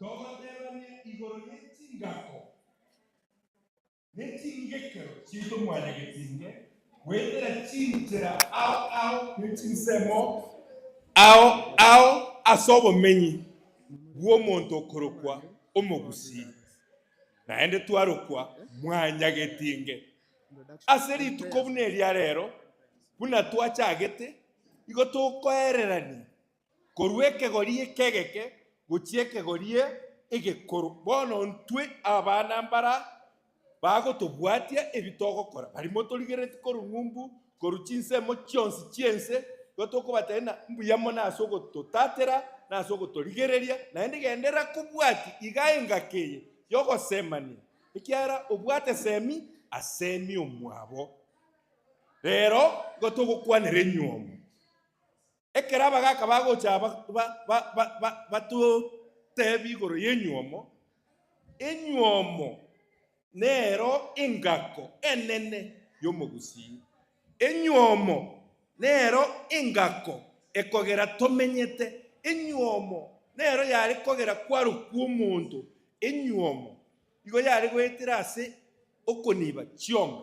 Togoterania igoro ye chingako. ne chingekero chi'tomwanyagetinge, goetera chinchera ao ao ne chinsemo ao ao ase obomenyi bw'omonto okorokwa omogusii, naende twarokwa mwanyagetinge. Ase rituko buna eria rero, buna twachagete, igo tokoererania korwa ekegori ekegeke gochia ekegori egekoro. Bono intwe abana mbara bagotobwatia ebi togokora, barimo torigeretie korwa ng'umbu, korwa chinsemo chionsi chi'ense, igo tokobatebia ng'a mbuya mono ase ogototatera na ase ogotorigereria, naende genderera kobwatia iga engaki eye y'ogosemania, ekiagera obwate semi asemi omwabo. Rero igo togokwanera enywomo. Ekero abagaaka bagocha batoteebie igoro y'enywomo, enywomo nero engako enene y'omogusii. Enywomo nero engako ekogera tomenyete. Enywomo nero yare kogera kwarokwa omonto. Enywomo igo yare goetera ase okoniba chiombe.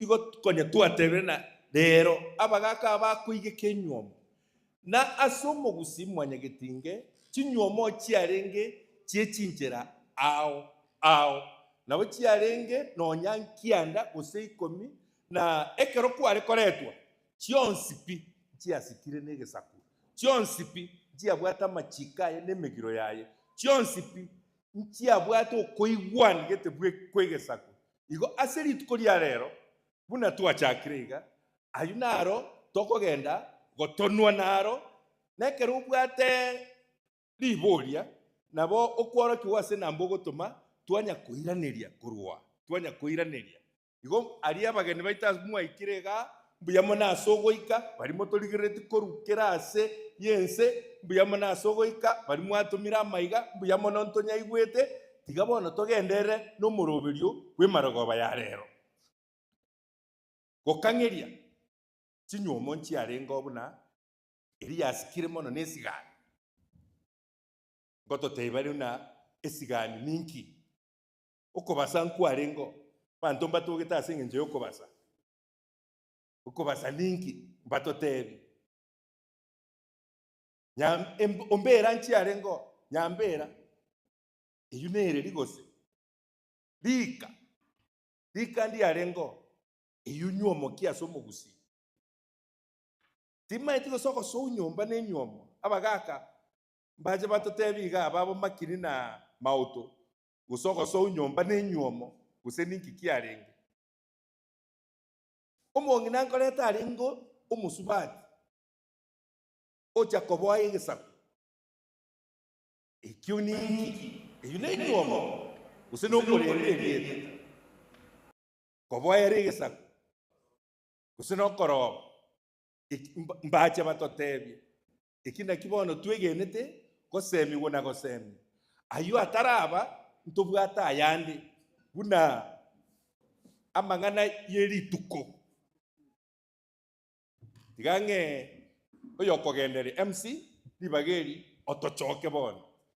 igo konya twatebire na reero abagaaka abakoigeka enyuomo, na ase omogusii mwanyagetinge chinyuomo chiarenge chie chinchera ao ao, nabo chiarenge nonya nkianda gose ikomi, na ekero kware koretwa, chionsi pi nchiasikire negesaku, chionsi pi nchiabwate amachiiko aye na emegiro yaye, chionsi pi nchiabwate okoigwan gete bwe kw'egesaku, Igo ase rituko ria reero, buna twachakire iga, ayio naro tokogenda gotonwa naro, na ekero obwate riboria, nabo okworokigwa ase nambe ogotoma, twanya koiraneria korwa, twanya koiraneria. Igo aria abageni baito mwaikire igaa, Mbuya mono ase ogoika baria motorigereretie korukera aase y'ense, mbuya mono ase ogoika baria mwatomire amaiga, mbuya mono ntonyaigwete, tiga bono togenderere nomoroberio bw'emarogoba ya reero. Gokang'eria chinyuomo nchiarengeo buna eria yasikire mono nesigani, ngototebia rero na esigani ninki? Okobasa nkwarengeo, banto mbatogete ase engencho y'okobasa, Okobasa ninki? Mbatotebi. Nya, em- ombera nchiareng'o? Nyambera. Eyio nereri gose? Rika. Rika ndiareng'o? Eyio nyuomoki ase omogusii. Timaeti gose ogosou nyomba ne nyuomo. Abagaka mbache batotebi iga ababo makiri na mauto, gose ogosou nyomba ne nyuomo, gose ninki kiarenge. Omong'ina nkoreta arenge omosubati, ocha koboa egesaku. Ekio niki? Eyio nenywomo, gose nokorenda erieta, koboera egesaku, gose nokoroba. Eki mba- mbache batotebie, Eki nakio bono twegenete, goseemigwa na goseemia. Ayio ataraba, ntobwate ayande, buna amang'ana ye rituko. Tiga ng'e oyokogendereria MC ribaga eri, otochoke bono.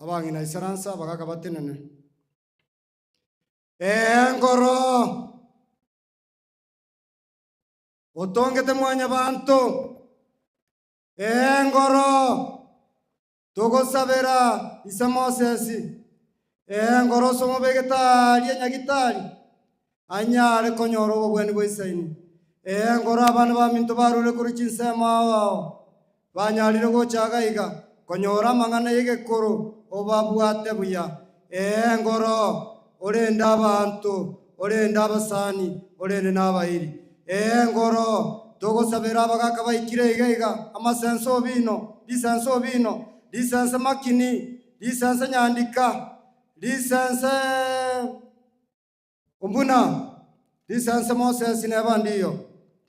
Abang'ina isaransa bagaaka batenene, Ee nkoro, otongete Mwanyabaanto, ee nkoro, togosabera ise Mosesi, ee nkoro ase omobegete aaria nyagitari, anyare konyora obobwani bwa Isaini. Ee, ngoro abana baminto barure korwa chinsemo ao ao banyarire gocha iga iga konyora amang'ana y'egekoro obabwate buya. Ee, ngoro orende abanto, orende abasani, orende nabairi. Ee, ngoro togosabera abagaka baikire iga iga, amasense obino, risense obino, risense makini, risense nyandika, risense. Buna risanse Moses nebandiyo,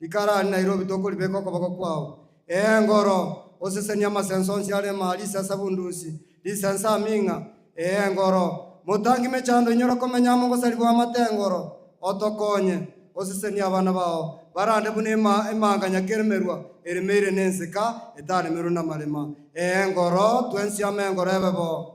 rikarani Nairobi tokoribeka okoboko kwao. Ee ngoro, osesenie amasense onsi are ime aria isesa bundusi, risense aming'a. Ee ngoro, motangi mechando inyora komenya amo gosarigwa amate ngoro, otokonye, osesenie abana bao, barande buna ime emanga nyakeremerwa eremeire nenseka etaremerwe namarema. Ee ngoro, twensi amo engoro ebe bo.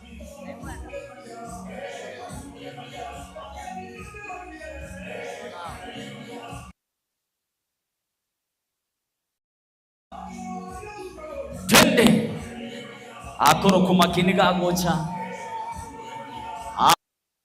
Twende! Akorokwo make nigo agocha.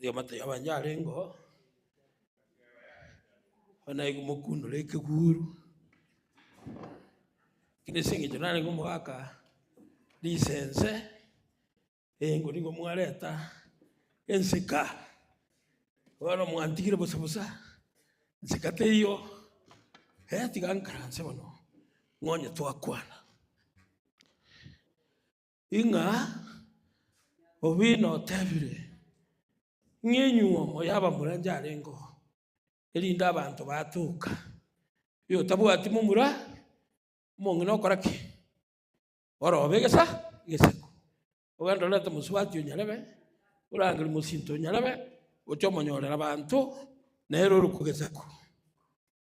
Oyomoto yabo onye arenge oo, bono naye komokundera ekeguru, lakini ase eng'encho narenge komogaka lisense, eyengo nigo mwareta enseka, bono mwantigire bosa bosa, nseka teiyo, eh tiga nkaranse mono, ng'onye twakwana. Ing'a obeino otebire, Ng'a enyuomo y'abamura njarengeo, erinde abanto batoka, oyotabwati momura omong'ina okora ki? Orobe egesa egesiko, ogende orente omosubati o nyarebe, orangere mosinto o nyarebe, oche omonyorere abanto, nere ore kogesakwa.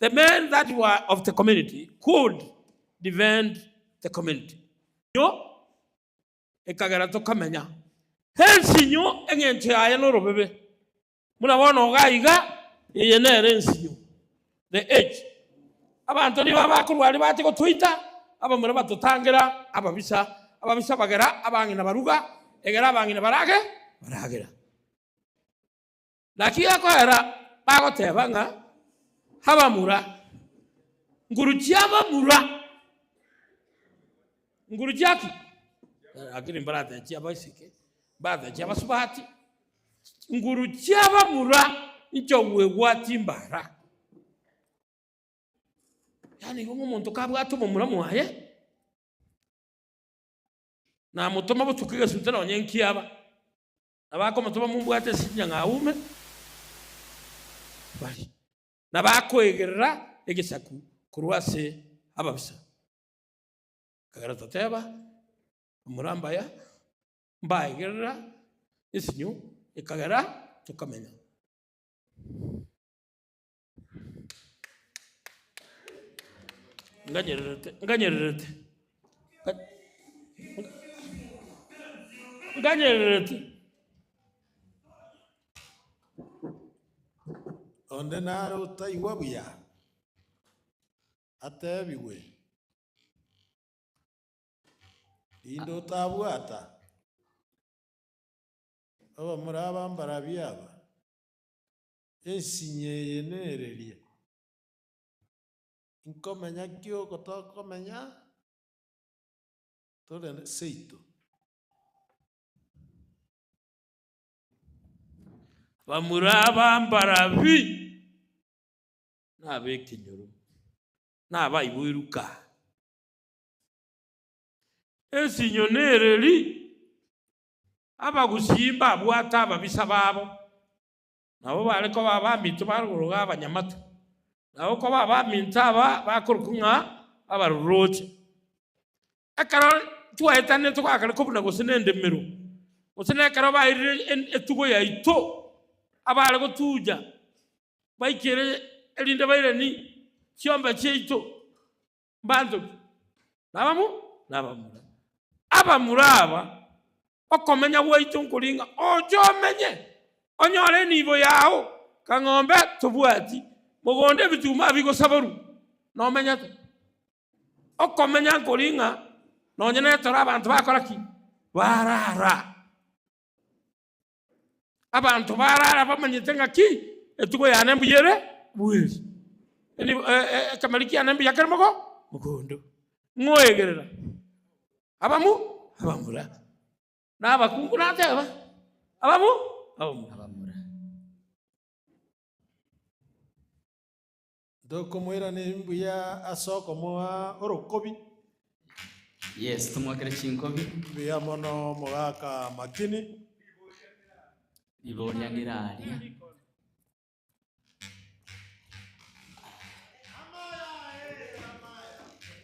The men that were of the community could defend the community. Inyo ekagera tokamenya. Hence inyo eng'encho yaye norobebe. Buna bono iga iga, eye nere ensinyo, the edge. Abanto nigo abakorwa aria bache gotoita, abamura batotangera ababisa, ababisa bagera abang'ina baruga, egera abang'ina barage, baragera. Naki gekorera bagoteba ng'a abamura, nguru chi'abamura, nguru chia ki? Lakini mbarate chi'abaiseke, mbarate chi'abasubati, nguru chi'abamura nchogwegwa chimbara. Yaani igo ng'omonto kabwate omomura mwaye, namotoma botuko egesute nonye nkiaba. Nabakomotoma mombwate esinchia ng'a aume bare, na bakoegerera egesaku korwa ase ababisa. Ekero toteba, Morambaya, mbaegerera esinyo, ekagera tokamenya. Nganyererete, nganyererete, nga- nga- nganyererete. Onde nare otaigwa buya atebigwe, rinde otabwata abamura abambarabia aba. Ensinyo eye nereria, inkomenya ki oko tokomenya tore seito? Bamura abambarabi, nabekenyoro, nabaiboiruka. Ensinyo nereria, abagusii mbabwate ababisa babo, nabo bare koba abaminto ba rogoro ga abanyamate, na okoba abaminto aba bakorokwa ng'a abarorooche. Ekero twaetanire togakana kobuna gose nendemero, gose nekero bairire etugo yaito, abare gotuja baikere erinde bairani chiombe chiaito, mbanchoki, na abamo nabamura. Abamura aba, okomenya gwaito nkoringa oche omenye, onyore enibo yao, kang'ombe tobwati, mogondo ebituma bigosaborwa, nomenyete. Okomenya nkoringa nonye netore abanto bakora ki? Barara. Abanto barara bamanyete ng'aki etugo yane mbuya ere bweri, eri- e- e- ekemariri kiane mbuya kere mogo mogondo, ng'oegerera abamu abamura, na abakungu nateba abamu abamura. Ntokomoirana embuya ase okomoa orokobi. Yes tomoakere chinkobi. Mbuya mono omogaka Makini. Riboria ngera aria.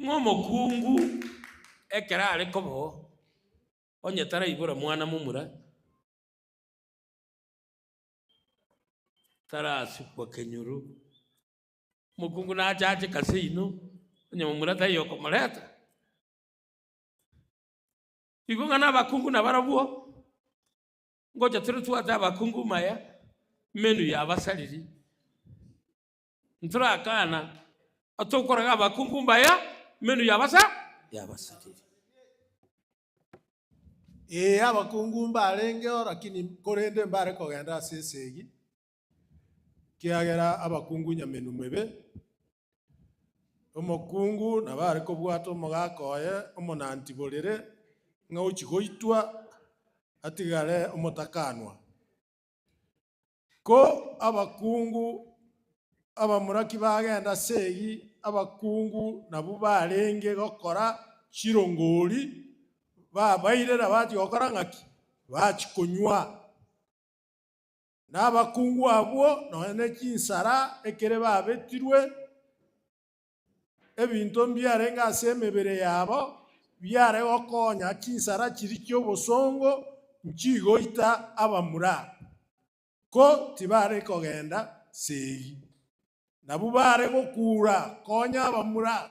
Ng'a omokungu ekero are koboo, onye taraibora mwana momura, tarasukwa kenyoro, omokungu nache ache kase inwe, onye momura taiyo okomoreta. Igo ng'a na abakungu nabarobwo. ngocha tore twate abakungu maya menu ya abasariri ntorakana atokoraga abakungu mbaya menu ya abasa ya abasariri Ee, abakungu mbarenge oo, lakini korende mbare kogenda ase esegi, Ekiagera abakungu nyamenwa mebe, omokungu nabare kobwata omogaka oye omonanti borere ng'a ochia goitwa, atigare omotakanwa. Ko abakungu abamuraki bagenda ase eyio, abakungu nabwo barenge gokora chirongori, babairera bachia gokora ng'aki? Bachia konywa. na abakungu abwo nonya ne chinsara ekere babetirwe, ebinto mbiarenge ase emebere yabo biare gokonya chinsara chiria chi'obosongo nchigoita abamura, ko tibare kogenda seegi. Nabwo bare gokuura konya abamura.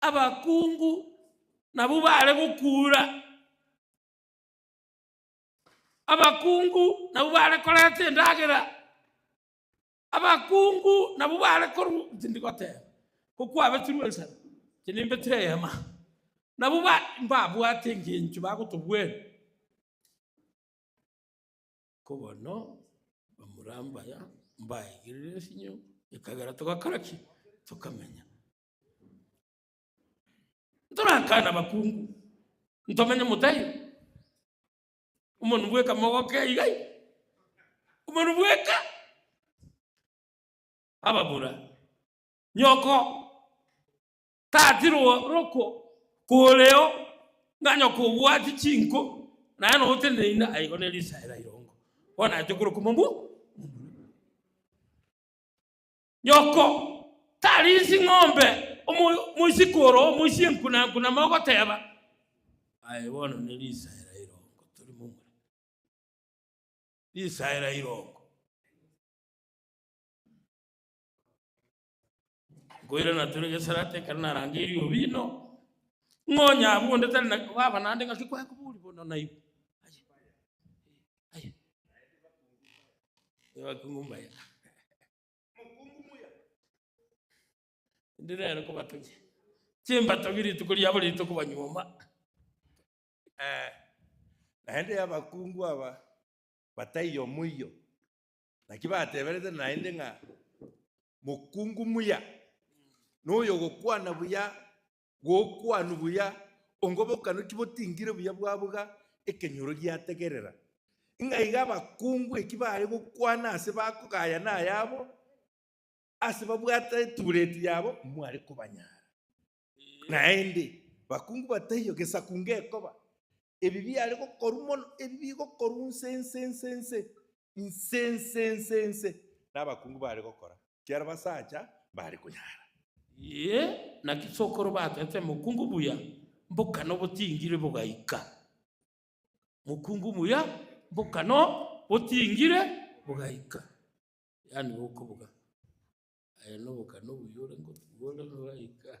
abakungu nabwo baare gokuura, abakungu nabwo baare korenta endagera, abakungu nabwo baare koru tindi goteba, ko kwabetirwe ensemo, inche nimbetire eyemo aa, nabwo ba mbabwate engencho bagotobwera, ko bono omoramba aya mbaegerire esinyo ekagera togakora ki? Tokamenya. Ntorakane abakungu, ntomenye motai, omonu bweka mogoke igai, omonu bweka ababura, nyoko tati ro- roko koreo ng'a nyoko obwati chinko naye nonya oteneine aigo ne risaera irongo bono naye tokoroka omobu. Nyoko tarinsi ng'ombe omo- moisikoro omoisia enkunankuna mogoteba, Aye bono ne risaera irongo tori momura. Risaera irongo. Nkoirana tore gesarate ekero narangeiri obino, ng'onya abwo onde tari na baba naende ng'aki kwaye kobori bono naigwe. Aye, aye. Ebakungu mbaye. Mokungu muya. Ndire ere kobatunye. Chimbatogi rituko riabo rito kobanyuoma. Eh, naende abakungu aba bataiyo omoiyo naki bateberete naende ng'a mokungu muya noyo ogokwana buya Gokwanu buya, ongobokano ki botingire buya bwabuga ekenyoro giategerera? Ng'a iga abakungu eki baye gokwana ase bakogaya nayabo, ase babwata etubureti yabo mware kobanyara. Naende, bakungu bataiyo gesaku ngekoba, ebi biare gokorwa mono, ebi bigokorwa nse nse nse nse, inse inse inse inse nabakungu bare gokora, kiaro basacha mbare konyara. Ee, na chisokoro batete mokungu muya mbokano botingire bogaika, mokungu muya mbokano botingire bogaika, yaani bokobuga aye nobokano buya ore ngotuga ore nogaika.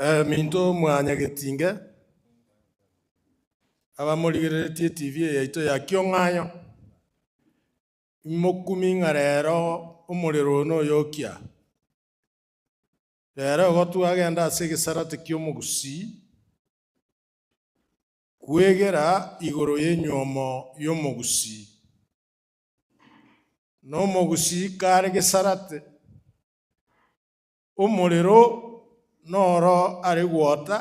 Ominto omwanyagetinge, abamorigereretie TV yaito ya Kiong'ayo, imokumie ng'a rero omorero oyo noyokia. Ere ogotwa agende ase egesarate ki'omogusii, kwegera igoro y'enyuomo y'omogusii, na omogusii kare gesarate, omorero noro are gwota,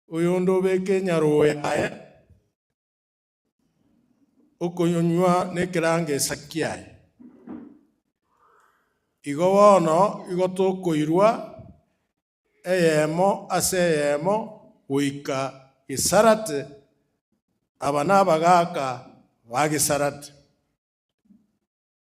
oyonde obeke enyarogo yaye, okoyonywa nekerangeesa kiaye. Igo bono igo tokoirwa eyemo ase eyemo goika Gesalate, aba nabagaaka ba Gesalate.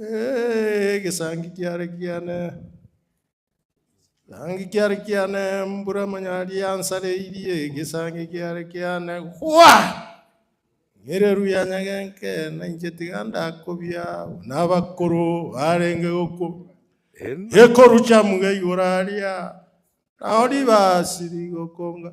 Egesangi kiare kiane, egesangi kiare kiane, mbura manyari yansareirie, egesangi kiare kiane, gwa! Ng'ireru ya nyagenke, na inche tiga ndakobia, buna abakoro barenge gokwa. Ekoru chiamuga igoro aria, nao ribasi rigokonga.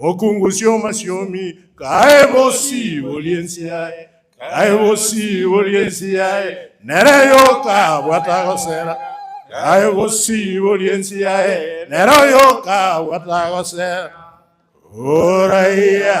Mokungusie omasiomi, kae bosi borie ense yaye, kae bosi borie ense yaye, nere yoka bwata gosera, kae bosi borie ense yaye, nero yoka bwata gosera. Oraiya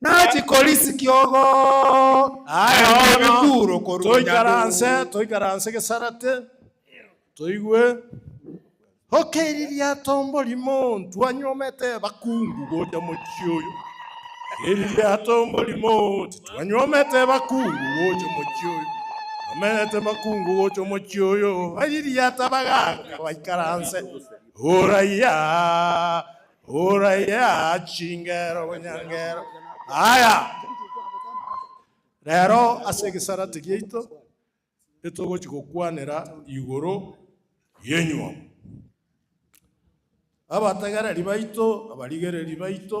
Nachi korisi kiogo, aye mono, toikaranse, toikaranse gesarate, toigwe. Oke eri riato mborimo, ntwanyuomete bakungu gocha mochie oyo. Eri riato mborimo, titwanyuomete bakungu gocha mochie oyo. Nomerete bakungu gocha mochie oyo, bari riata bagaka baikaranse. Oraia. Oraye chingero bwenyangero. Aya, rero ase egesarati giaito etogochi gokwanera igoro y'enyuomo. Abategereri baito, abarigereri baito.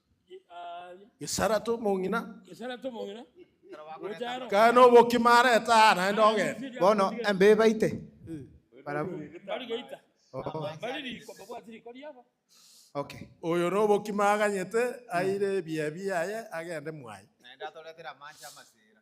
Gesara tomong'ina. Gesara tomong'ina. Kare nobokima areta aa naende ogenda. Bono embe ebaite. Barabwo. Bari geita. Bari riko babwati riko riabo. Okay. Oyo nobokima aganyete aire ebiaye biaye agende mwaye. Naende atoretere amache amasira.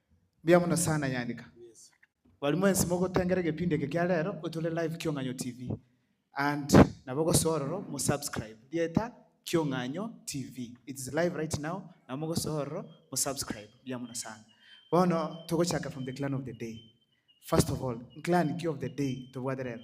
Mbuya mono sana Nyanika. Bari mwensi mogotengera egepindi eke kia rero otore live Kiong'anyo TV. And nabo gosoa ororo mo subscribe rieta Kiong'anyo TV. It is live right now nabo mogosoa ororo mo subscribe. Mbuya mono sana. Bono togochaka from the clan of the day. First of all, clan ki of the day tobwate rero?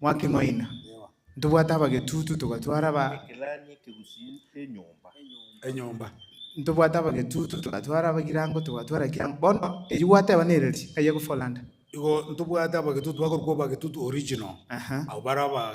Mwakeng'oina, ntobwate abagetutu togatwara ba. Ekelani ekegusii enyomba. Enyomba. Ntobwate abagetutu togatwara abagirango togatwara ekirango bono erio gwateba nereri aye gofolanda. Igo ntobwate abagetutu bakorokwa obagetutu original. Aha. Abo bare aba.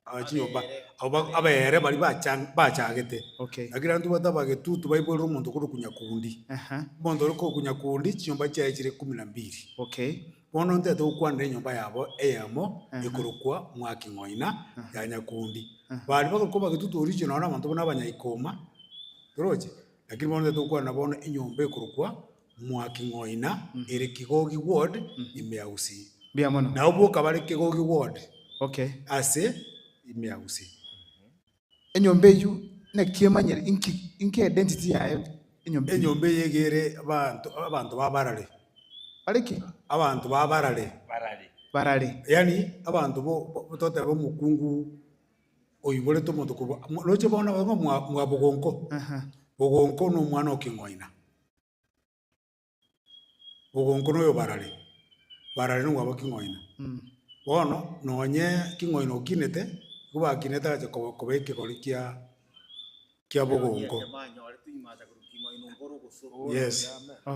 Aa, chinyomba. Abo ba- abaere baria bacha- bachagete. Okay. Lakini abanto bataba getutu baiborera omonto korwa okunya kundi. Aha. Omonto ore kokunya kundi, chinyomba chiaye chire ikomi na mbiri. Okay. Bono ntete gokwanera enyomba yabo eyemo Aha. ekorokwa Mwaki Ng'oina ya Nyakundi. Aha. Baria bagore koba getutu oriche nonye na abanto buna abanyaikoma, toroche, lakini bono ntete gokwanera bono enyomba ekorokwa Mwaki Ng'oina ere Kigogi Ward ime ya Gusii. Mbuya mono. Nabo boka bare Kigogi Ward Okay. ase ime ya Gusii. Enyomba eyio naki emanyere inki inki identity yaye enyomba eyio? Enyomba eye iga ere abanto abanto ba barare. Bare ki? Abanto ba barare. Barare. Barare. Yaani abanto bo bo totebe omokungu oiborete omonto korwa roche bono abwo mwa mwa Bogonko. Aha. Bogonko na omwana o King'oina. ogonko noyo barare, barare nigo abwo king'oina. Bono nonye king'oina okinete, nigo bakinete agacha koba- koba ekegori kia kia bogonko. Yes.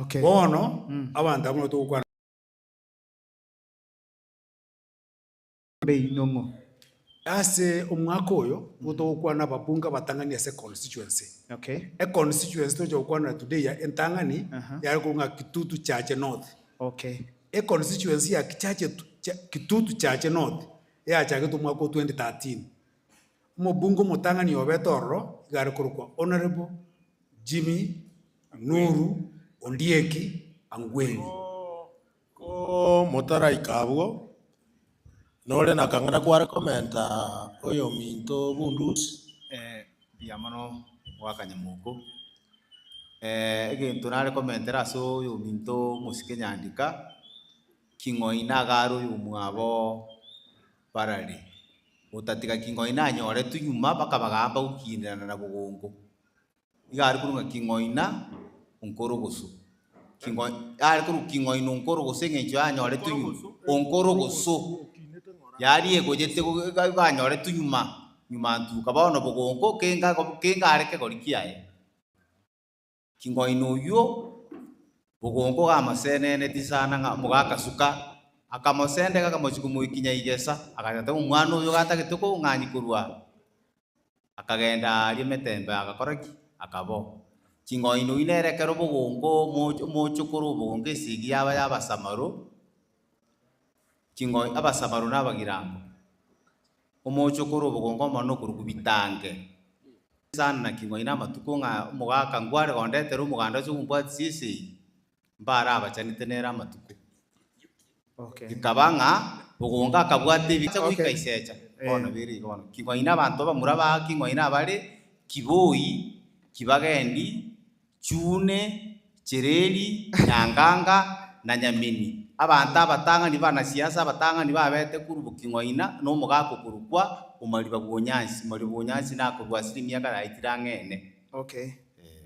Okay. Bono abanto abwo nigo togokwana. beinong'o. Ase omwaka oyo nigo togokwana ababunge abatang'ani ase econstituency. Okay. Econstituency tocha gokwanera today ya entang'ani yare korwa ng'a Kitutu Chache North. Okay. Econstituency ya Kichache Kitutu Chache North eachagetwe omwaka o 2013. Omobunge omotang'ani obete ororo iga are korokwa Honourable Jimmy Nuru Ondieki Angweri. Komotaraika abwo, nore nakang'ana kware komenta oyominto bundusi. Mbuya mono bw'akanyama oko. Egento nare komentera ase oyominto omosike nyandika, king'oi nagare oyomwabo barare, otatiga king'oi nanyoretwe nyuma bakaba gamba gokindirana na bogongo. iga are korwa ng'a king'oina onkorogoso, are korwa king'oina onkorogoso eng'encho yanyore tunyuma, onkorogoso, yaria egonyete iga igo anyore tunyuma, nyuma ntuka bono bogongo kenga kenga are kegori kiaye. King'oina oywo, bogongo iga amoseneneti sana ng'a moga agasuka, akamosendeka akamochia komoikinya igesa, agateba omwana oyo iga atagete kong'anyia korwa Akagenda aaria emetembe agakora ki? Akabao. Ching'ondi nonya nere ekero obogongo omoch omochoko ore obogongo esegi yaba y'abasamaro, ching'ondi abasamaro na abagirango, omochoko ore obogongo omonene okorokwa bitange, sana king'ondi na amatuko ng'a omogaka nkware gondetere omoganda ase okombwatisia esegi. mbarabachanete nere amatuko. Okay. Bikaba ng'a bogonga akabwata ebi acha goika Okay. isecha. Eh. Bono bere igo bono. Ki ng'oine abanto abamura ba ki ng'oine abare Kiboi, Kibagendi, Chune, Chereri, Nyanganga na Nyameni. Abanto abatang'ani banasiasa abatang'ani babete korwa bo ki ng'oina na omogaka okorokwa Omariba bw'Onyansi. Omariba bw'Onyansi nakorwa ase emiaka yaetire ang'e ene. Okay. Eh.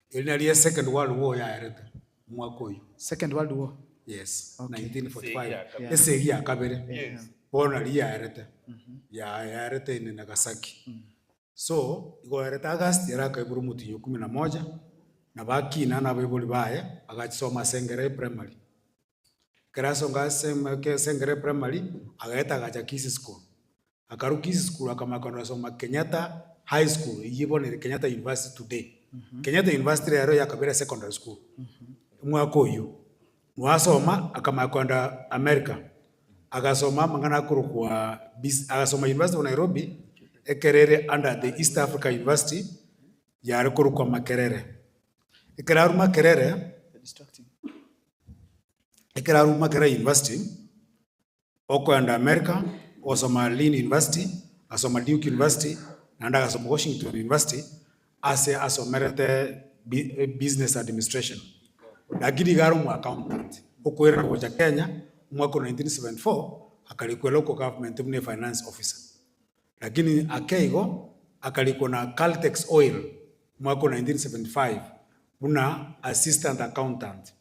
Eri nario ye second world war yaerete omwaka oyio. Second World War. Yes, Okay. 1945. Yeah. Ese egi ya kabere. Yes. Bono nario yaerete. Ya yaerete in Nagasaki. So, igo yaerete August ere akaibora omotinyo kumi na moja na bakina na abaibori baye agachisoma ase Ngerai primary. Kerasonga ase esengero ya primary agaeta agacha Kisii school. Akarwa Kisii school akamanya kogenda kosoma Kenyatta high school eyio bono ere Kenyatta university today. Kenyatta university rero yakabeire secondary school omwaka oyio. Nabo asoma akamanya kogenda America agasoma amang'ana akorokwa agasoma university of Nairobi ekero ere under the East Africa university yare korokwa Makerere. Ekeraruma kerere, ekeraruma kera university, okoenda America gosoma Lynn University, ngasoma Duke University, naende agasoma Washington University, ase asomerete bi- eh, business administration. Lakini iga are omoaccountant, okoirana gocha Kenya, omwaka o 1974, akarikwera oko government buna efinance officer. Lakini akeigo akarikwa na Caltex Oil mwaka o 1975 buna Assistant Accountant.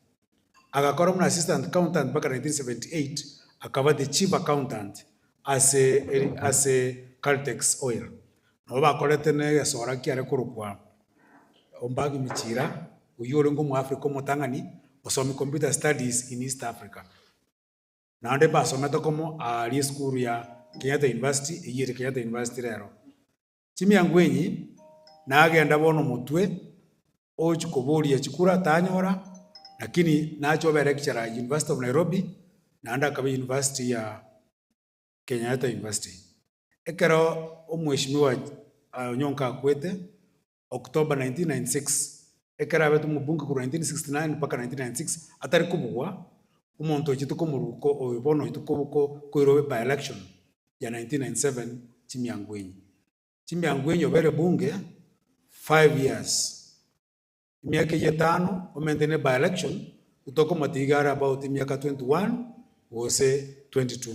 Agakora buna Assistant Accountant mpaka 1978 akaba the Chief Accountant ase ase Caltex Oil. Nabo bakorete negesora kiare korokwa Ombagi Michira oyio orenge Omoafrika omotang'ani, omosomi Computer Studies in East Africa. Naende mbasomete okomo aaria esukuru ya Kenyatta University, eyio ere Kenyatta University rero. Chimiango'enyi nagenda bono omotwe ogochia koboria chikura tanyora, lakini nachia kobera lecturer University of Nairobi, naende akaba University ya Kenyatta University. Ekero omheshimiwa Onyonka akwete, October 1996, ekero abete omobunge korwa 1969 mpaka 1996 atari kobugwa, omonto oichete komoruko oyo bono oito koboko koirwe by-election ya 1997 chimianguenyi chimianguenyi obere bunge five years emiaka eyio etano omente ne by-election gotoka omotiga are about emiaka 21 gose 22.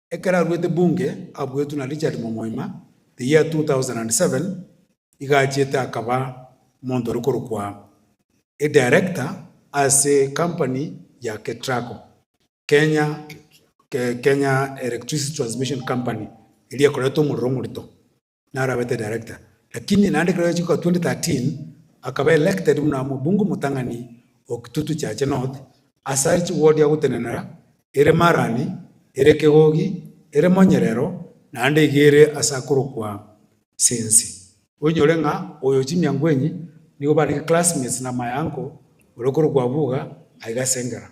Ekero arwete Bunge abuetwe na Richard Momoima the year 2007, iga achiete akaba omonto ore korokwa Edirector ase ecompany ya Ketraco, Kenya Kenya Electricity Transmission Company, eria ekorerete omorero omorito. narabete director lakini naende ekero yachika 2013 akaba elected buna omobunge omotang'ani o Kitutu Chache North asare chiwodi agotenenera ere Marani, ere Kegogi, ere Monyerero naende iga ere ase akorokwa Sensi. Oinyore ng'a oyo chimiangoenyi nigo barenge classmates na my uncle ore okorokwa Abuga aiga Sengera.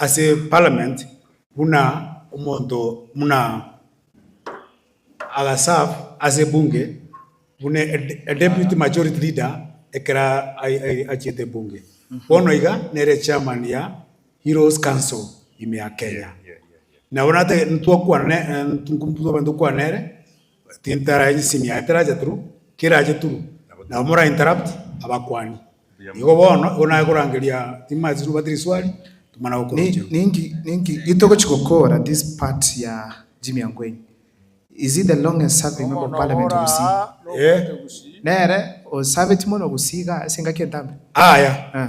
Ase parliament buna omonto buna aga serve ase bunge buna a deputy majority leader ekero achiete bunge. Bono iga nere chairman ya heroes council ime ya Kenya. Nabo natagete ntwakwana nere Tintara enchisiimi yaye teracha turu, kerache turu, nabo mora interrupt abakuani. Igo bono, igo naye korangeria timanyeti tobwate riswali, tomana gokorochigwa. Ninki ninki gitogochi gokora this part ya Jimmy Angwenyi is he the longest serving member of parliament of Gusii? Eh, Nere osabeti mono Gusii igaa ase engaki entambe? aya, Eh.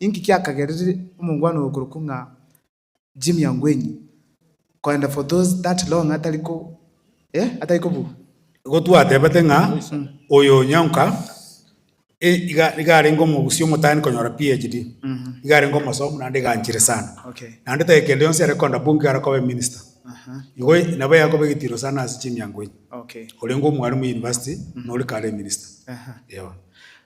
Inki kiakagereire omongwana oyo okorokwa ng'a Jimmy Angwenyi koenda for those that long atari ko eh atari kobu Igo twatebete ng'a oyo Nyang'uka eh iga iga arenge omogusi omotani konyora PHD, iga arenge omosomu naende iga anchire sana. Okay. Naende taiyo kende yonsi are koenda bunge iga arakoba eminister. Aha. Igo nabo yakoba egetiro sana ase Jimmy Angwenyi, Okay. orenge omwalimu university na ore kare eminister. Aha. Ewa.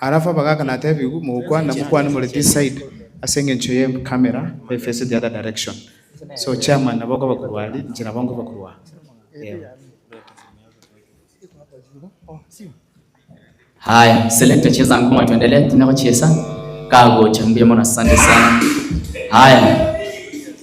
Alafu abagaaka natebiwu, mogokwana, mokwane more this side ase engencho ye camera e face the other direction. So chairman nabo okoba korwa ari, inche nabo nkoba korwa aa. Eeh. Haya, selekta cheza ngoma tuendelee, tune gochiesa. Kagocha, mbuya mono asante sana. Haya.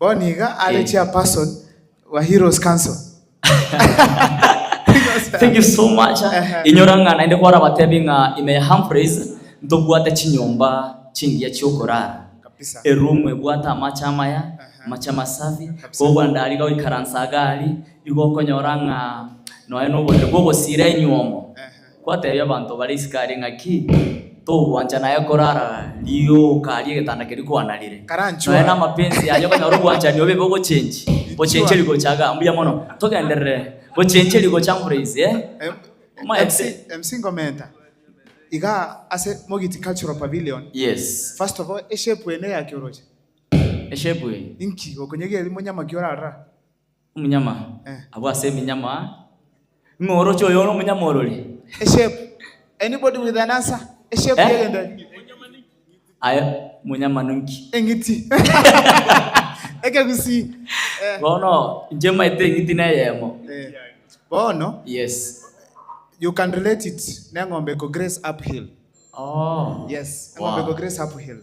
Bono iga are chairperson wa Heroes Council. Thank you so much. Ehe. Inyora ng'a naende kwarabatebi ng'a ime ya Humphreys ntobwate chinyomba chingiya chiokorara. Kabisa. Eroom ebwate amache amaya, amache amasafi. Kabisa. Koba bwandari iga goikaransa iga aria, igo okonyora ng'a nonya noborere bwa ogosiira enywomo. Ehe. Gwateebia abanto bare isiko aria ng'a ki? Togwancha naye korara rioka ri'egetanda keria kwana rire. Nonya namapensi yaye okonyora obwanchani obe ibo bochenchi, bochencheri gocha iga. Mbuya mono. Togenderere. Bochencheri gocha mburaise, eh? Omaete? Iga ase Mogiti Cultural Pavilion. Yes. First of all, eshape eye neyaki oroche? Eshape eye? Inki? Okonyegeria monyama ki orarora? Omonyama, abwo ase eminyama imoroche oyo ore omonyama orori. A shape. Anybody with an answer? A shape Eh? y'egento eke. Aye omonyama ninki? Eng'iti. Ekegusii. Eh, Bono inche maete eng'iti neyemo. eh. Bono, Yes. you can relate it neng'ombe ko grace uphill. Oh. Yes, eng'ombe Wow. ko grace uphill.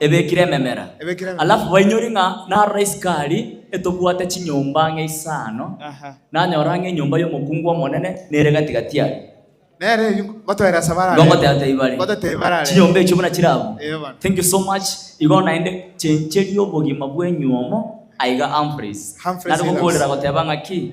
ebekire ememera, alafu bainyori ng'a narora isiko aria etobwate chinyomba ang'e isano, nanyora ang'e enyomba y'omokungu omonene nere gati-gati aria. Ngoteba are, Chinyomba echio buna chire abwo? Igo naende chencheria obogima bwenyu omo aiga Humphreys, nare gokoorera goteba ng'a ki?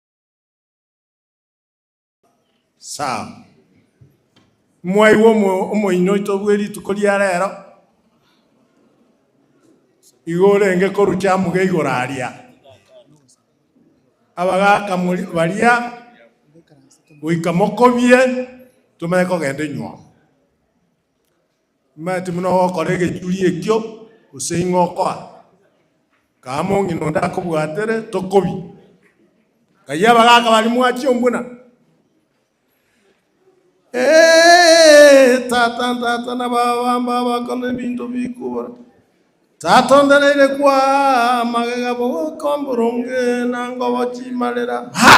Sam. Mwaigwa omo- omoini oito bwe rituko ria rero, igo orenge korucha amuga igoro aria. Abagaka mori- baria goika mokobie, tomanye kogenda enyuomo. Imanye timuna ogokora egechuri ekio, gose ing'o okoa. Kama ong'ina onde akobwatere, tokobi. Ng'ai abagaaka baria mwachia ombuna? Ee, tata ntata na baba mbaba bakore ebinto bikobora. Tata ondereire kwa magega bogoka omboronge na ngobo chimarera. Ha!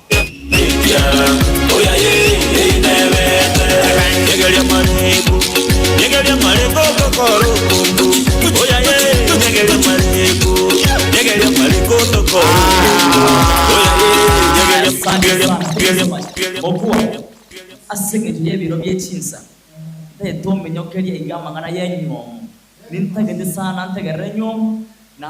Okwo, ase engencho y'ebiro bie chinsa, ntagete omenyokerie iga amang'ana y'enyiomo. Nintagete sana ntegerere enyiomo, na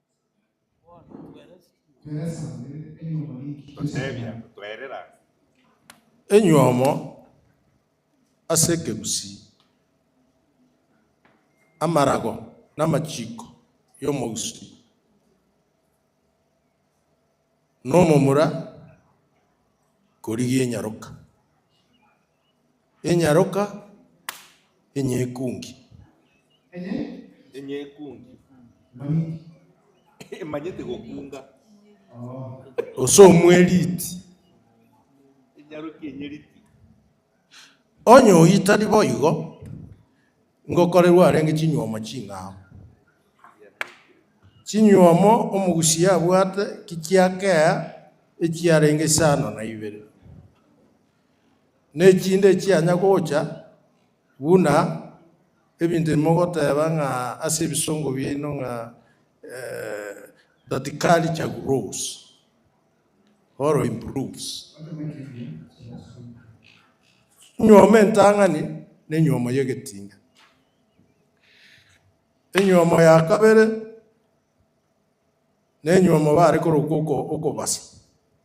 Gotebia, Twerera. Enywomo ase ekegusii, amarago na amachiko y'omogusii, na omomura korigia enyaroka. Enyaroka enyekungi. Enyekungi. Emanyete gokunga. Gose omweriti. Enyaroka enyeriti. Onye oitari boigo, ngokorerwa arenge chinyuomo ching'ao. Chinyuomo omogusia abwate ki chia kea echiarenge isano na ibere. Nechinde echianya gocha, buna ebinto ebi mogoteba ng'a ase ebisongo biaino ng'a that culture grows or improves. Enyiomo entang'ani nenyiomo y'egetinga. Enyiomo ya kabere nenyiomo bare korokwa oko- okobasa.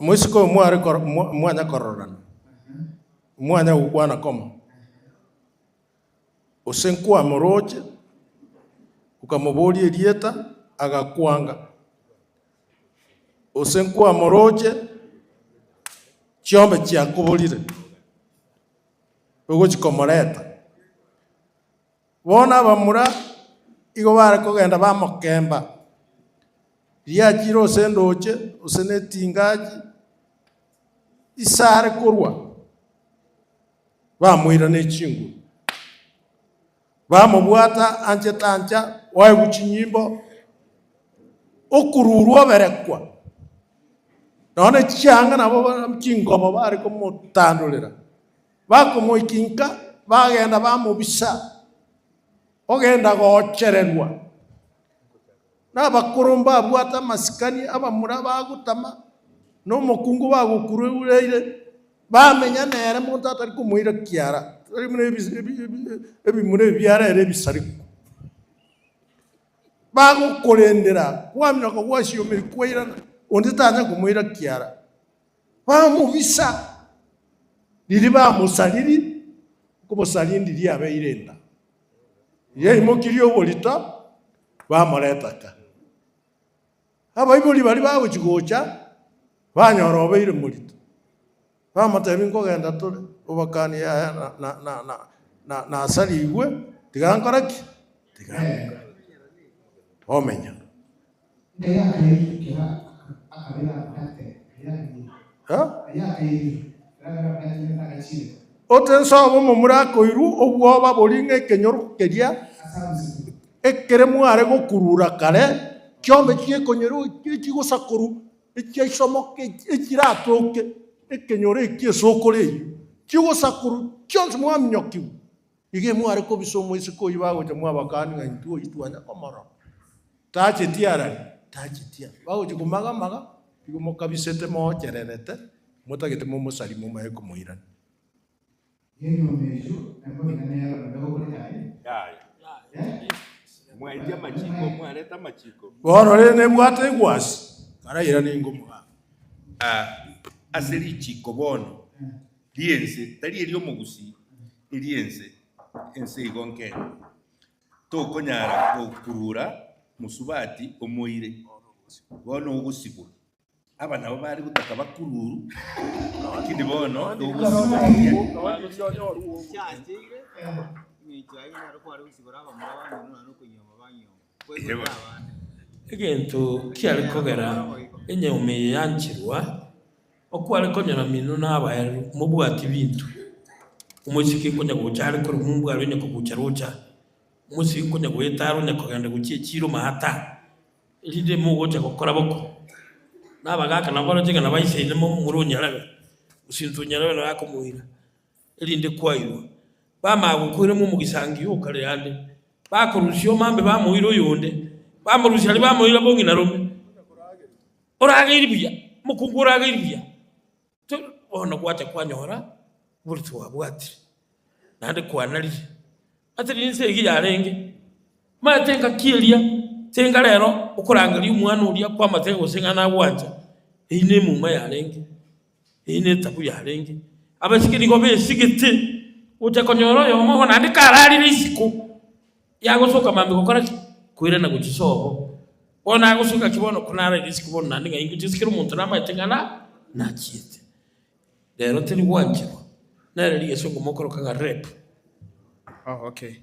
Moiseke oyo mware mwanya kororana, mwanya gokwana koma, gose nkwamoroche okamoboria erieta agakwanga, gose nkwamoroche chiombe chiakoborire ogochi komoreta. Bono abamura igo bare kogenda bamokemba, riachi ire gose endooche, gose netingachi, ise are korwa, bamoira ne chinguru, bamobwata anchete ancha, oegwe chinyimbo, okururwa oberekwa, nonya ne chianga nabo chingobo bare komotandorera. Bakomoikinka, bagenda bamobisa, ogenda goochererwa nabakoro mbabwate amasikani, abamura bagotama, na omokungu bagokurureire, bamenya nere monto atari komoira kiara, tari buna ebi- ebi- ebi- ebimura ebi biarere ebisariku. Bagokorendera kwamina okogwasia omeri kwairana, onde tanyare komoira kiara. Bamobisa, riria bamosariri, okobosarindi riabeire enda, yaimokirie oborito, bamoreta ka. Abaibori baria bagochia gocha, banyora obeire morito, bamotebia, Nkogenda tore, obokani yaya na- na- na- na- na- nasarigwe, tiga nkore ki? Tiga ngende. Omenya. Otense obomomura akoirwa obwoba boria ng'a ekenyoru keria ekere mware gokurura kare ki'onde chi'ekonyeru echi echigosakoru echiaisomoke echi echiratoke ekenyoru eki esokoro eyio chigosakoru chionsi mwaminyokigwa. Iga imware kobisa omoiseke oyio bagocha mwabakani ng'a intwe oyio twanya komorora. Tachetie arari? Tachetie arari. Bagochia komaga maga, igo mokabisete moochererete, motagete momosari momaye komoirania. Bono rende nebwate egwasi, karairane ingo omogaka. Ase richiiko bono ri'ense, tari eri'omogusii, eria ense, ense igo nkeng'u, tokonyara gokurura mosubati omoire, bono ogosibwa. Aba nabo bare gotaka bakururu, lakini bono togosibwa. Yebo. Egento kiare kogera enyauma eye yanchirwa, Okware konyora mino nabaeru mobwati binto, omoiseke konya gocha are korwa mombwaro onye kogucha rocha, omoiseke konya goetara onya kogenda gochia echiro maata, erinde mogocha gokora boko. Nabagaaka naboroche ng'a nabaise inwe momura onyarebe, gose intwe onyarebe naye akomoira. erinde kwairwa. Bamanya gokoirwa momogisangio o kare ande, bakorusia omambe bamoira oyonde, bamorusia aria bamoira bong'ina rome. Orageiri buya, mokungu orageiri buya. To bono gwacha kwanyora oboruti bwabwatire, naende kwanarire. Ase rinse eyio yarenge, maya tengaki eria, tenga rero okorangeria omwana oria kwamate gose ng'a nagwancha, eyio nemouma yarenge. Eye netabu yarenge, abasike nigo besigete gocha konyora oyomo obo naende kararire isiko yagosoka maambia gokora ki? Koirana gochia sobo. Bono agosoka ki bono ko naraire isiko bono naende ng'ai ngochia sikera omonto namaete ng'a nachiete. Rero teri gwancherwa nere rigeso okomokoroka ng'a rape. Oh okay.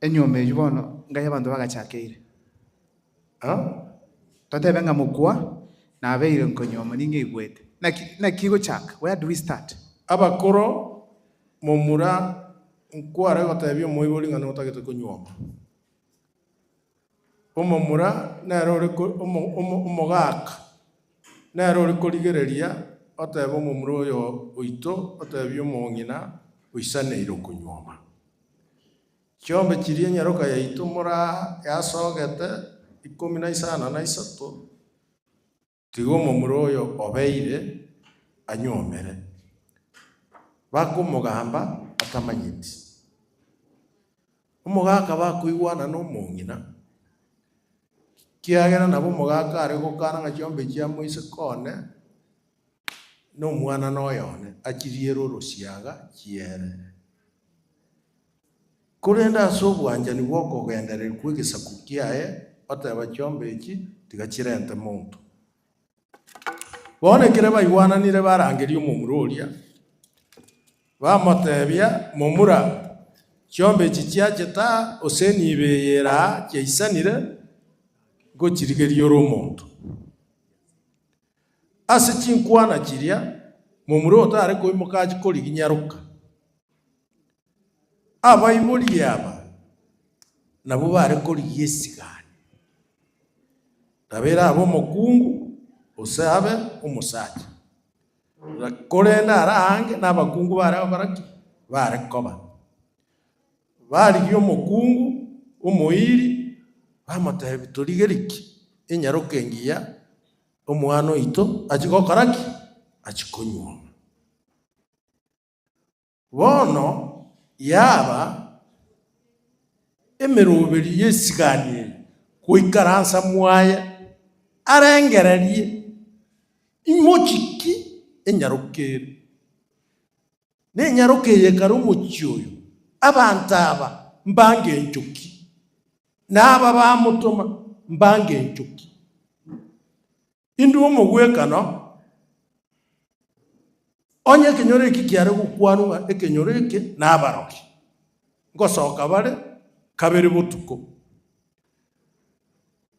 Enyomba eyio bono ngai abanto bagachakeire. Aa, totebe ng'a mokwa nabeire nkonyuoma ningeigwete. Naki, naki gochaka? Where do we start? Abakoro, momura nkware gotebia omoibori ng'a notagete konyuoma. Omomura nere ore omogaka, nere ore korigereria otebe omomura oyo oito otebie omong'ina oisaneire okonyuoma. Chiombe chiria enyaroka yaito moraa yasogete ikomi na isano na isato. Tiga omomura oyo obeire anyuomere. Bakomogamba atamanyeti. Omogaka bakoigwana nomong'ina, kiagera nabo omogaka are gokana ng'a chiombe chia moise kone nomwanana oyone achiriere orosiaga chiere. Korende ase obwanchani bw'okogendereri kw'egesaku kiaye oteeba chiombe echi tiga chirente monto. Bono ekero baigwananire barangeria omomura oria, bamoteebia, Momura, chiombe echi chiachete aa gose nibe eye ere aa chiaisanire, ngochirigerie ore omonto. Ase chinkwana chiria momura otare koimoka achi koriginyaroka. Abaibori aba nabwo bare korigia esigani, Tabera abe omokungu, gose abe omosacha. Korende are aange nabakungu bare ababara ki? Bare koba. Barigia omokungu omoiri, bamotebi, Torigerie ki? Enyaroke engiya omwana oito achie gokora ki? Achie konyuoma. Bono yaba emeroberi y'esigani eye goikaransa mwaye arengererie imochiki enyaroke ere. Nenyaroke eye kare omochie oyo, abanto aba mbango enchoki, na aba bamotoma mbango enchoki. Intwe omogwekano, onye ekenyoro eki kiare gokwanwa ng'a ekenyoro eke nabarokia, ngosoka bare kabere botuko.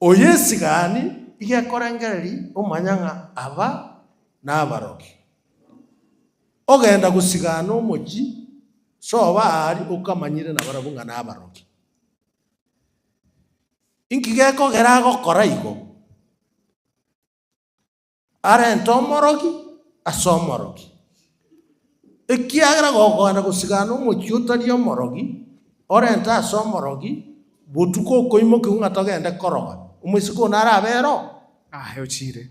Oyesigaani iga ekorengereria omanya ng'a aba nabarokia. Ogenda gosigaana omochie, soba aria okamanyire nabarabwo ng'a nabarokia. Inki gekogera agokora igo? Arente omorogi ase omorogi, ekiagera gokoenda gosigana omochie otari omorogi, orente ase omorogi, botuko okoimokigwa ng'a togende koroga, omoiseke oo narabe ero? Aye ochire.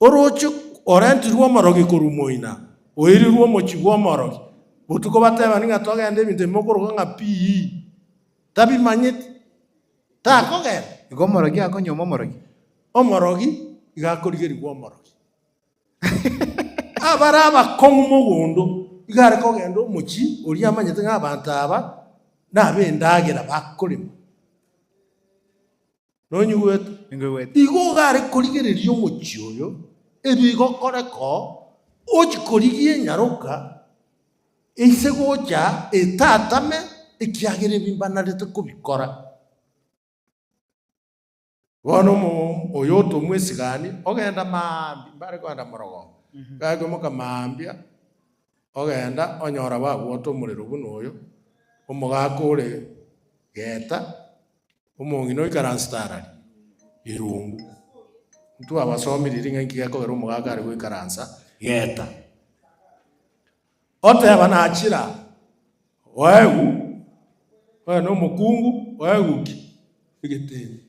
Orooche orentirwe omorogi korwa moina, oirirwe omochie bw'omorogi. Botuko batebani ng'a togende ebinto ebi mokoroka ng'a pii, tabimanyeti, takogenda. Igo omorogi akonyoma omorogi. Omorogi igo akorigerigwa omorogi. Abare abakong'u mogondo igo are kogenda omochie oria amanyete ng'a abanto aba nab'endagera bakorema. Nonyigwete? Ninkoigwete. Igo ogare korigereria omochie oyo ebigokoreka ochi korigia enyaroka eise gocha etatame ekiagera ebi mbanarete kobikora. Bono omomo oyo otomwesigani ogenda maambia, mbare kogenda morogoro, gari koimoka maambia ogenda onyora bagwata omorero buna oyo, omogaka ore geta Omong'ina oikaransete arari eruungu. Ntwabasomirie ng'a inki gekogera omogaaka are goikaransa geeta. Oteba nachira, Oegu, oyo nomokungu, oegu ki? Egetenyi.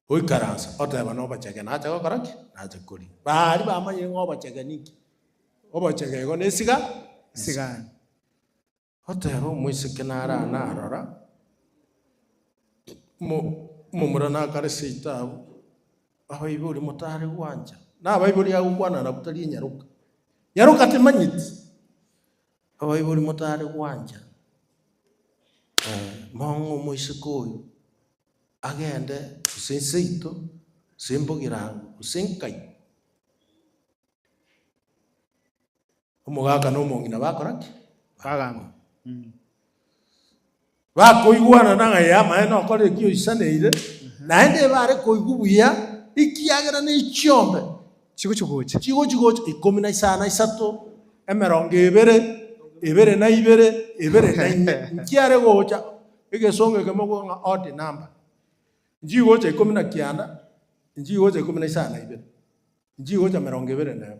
Goikaransa oteba nobochege nache gokora ki? Nache koria. Baari bamanyire ng'a obochege ninki? Obochege igo nesiga, esigani. Oteba omoiseke nara narora, omomura nakare seitabu, abaibori motare gwancha, na abaibori agokwana nabu tari enyaroka, nyaroka temanyeti, abaibori motare gwancha, mong'e omoiseke oyo agende gose seito, gose mbogirango, gose nkai. Omogaka na omong'ina bakora ki? Bagamba. Bakoigwana nang'a ee, amaene okore eki oisaneire, naende ebare koigwa buya, ekiagera ne chiombe Chigochia gocha. chigochia gocha ikomi na isano na isato, emerongo ebere, ebere na ibere, ebere na ime. Nchiare gocha egesongo eke mokoigwa ng'a odd number. Nchii gocha ikomi na kianda, nchii gocha ikomi na isano na ibere, nchii gocha emerongo ebere na emo.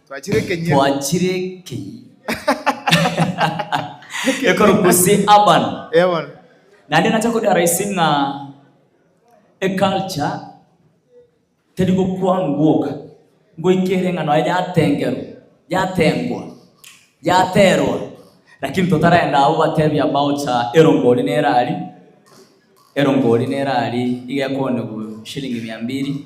Twachire ekenyero. Twachire ekenyero. Ekero gose urban. Urban. Naende nacha kodara ise ng'a eculture teri gokwanwa gwoka ngoike ere ng'a nonya yatengerwa, yatengwa, yaterwa lakini totarenda abwo batebia about erongori nere aria, erongori nere aria iga ekonywa shilingi mia mbili.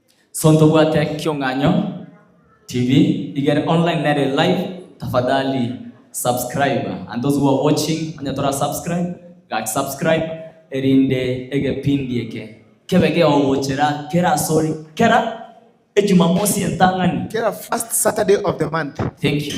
So ntobwate kiong'anyo TV igere online nere live tafadhali subscribe and those who are watching onye tora subscribe gaki subscribe erinde egepindi eke kebe geogochera kera asore kera ejumamosi entang'ani Kera first Saturday of the month. Thank you.